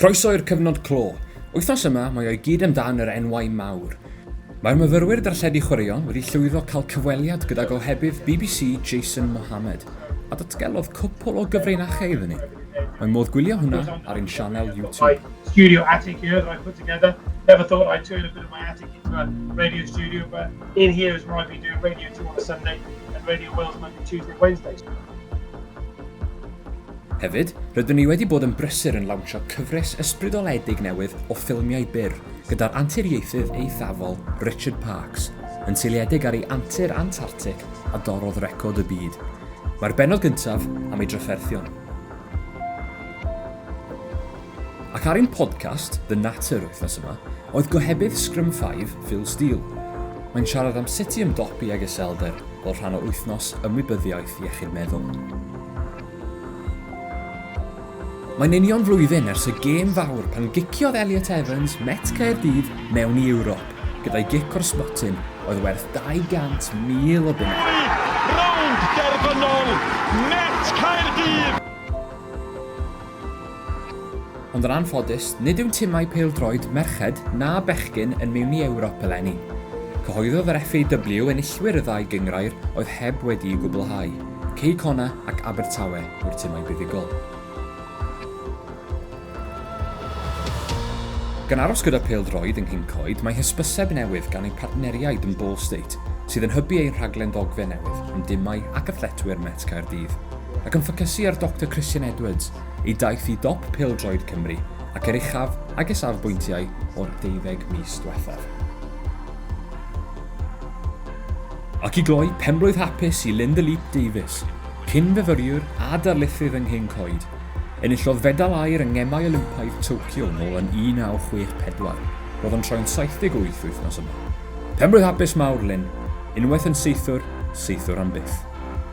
Croeso i'r cyfnod clo! Wythnos yma mae o i gyd amdan yr enwau mawr. Mae'r myfyrwyr darlledu chwaraeon wedi llwyddo cael cyfweliad gyda gohebydd bbc Jason Mohamed, a datgelodd cwpwl o gyfrinachau iddyn ni. Mae modd gwylio hwnna ar ein sianel YouTube. My studio attic here that I put together, never thought I'd turn a bit of my attic into a radio studio, but in here is where I've been doing Radio 2 on a Sunday and Radio Wales Monday, Tuesday, Wednesdays. Hefyd, rydyn ni wedi bod yn brysur yn lawnsio cyfres ysbrydoledig newydd o ffilmiau byr gyda'r anturiaethydd eithafol Richard Parkes, yn seiliedig ar ei antur Antartic a dorrodd record y byd. Mae'r bennod gyntaf am ei drafferthion. Ac ar ein podcast, The Natter, wythnos yma, oedd gohebydd Scrum 5, Phil Steele. Mae'n siarad am sut i ymdopi ag iselder fel rhan o Wythnos Ymwybyddiaeth Iechyd Meddwl. Mae'n union flwyddyn ers y gêm fawr pan giciodd Elliot Evans Met Caerdydd mewn i Ewrop gyda'i gic o'r sbotyn oedd werth 200,000 o bunnau. Rownd derfynol Met Caerdydd! Ond yn anffodus, nid yw'n timau pêl-droed merched na bechgyn yn meini Ewrop eleni. Cyhoeddodd yr FAW enillwyr y ddau gynghrair oedd heb wedi'u gwblhau, Cei Connah ac Abertawe yw'r timau buddugol. Gan aros gyda phêl-droed yng Nghyn Coed, mae hysbyseb newydd gan ein partneriaid yn Ball State, sydd yn hybu ein rhaglen ddogfen newydd am dimau ac athletwyr Met Caerdydd. ac yn ffocysu ar Doctor Christian Edwards, ei daith i dop pêl-droed Cymru ac er uchaf ag y safbwyntiau o'r deuddeg mis diwethaf. Ac i gloi, penblwydd hapus i Linda Leet Davies, cyn-fyfyriwr a darlithydd yng Nghyn Coed. Enillodd fedal aur yng Ngemau Olympaidd Tokyo nôl yn 1964. Roedd o'n troi'n 78 wythnos yma. Penblwydd hapus mawr, Lynn. Unwaith yn saethwr, saethwr am byth.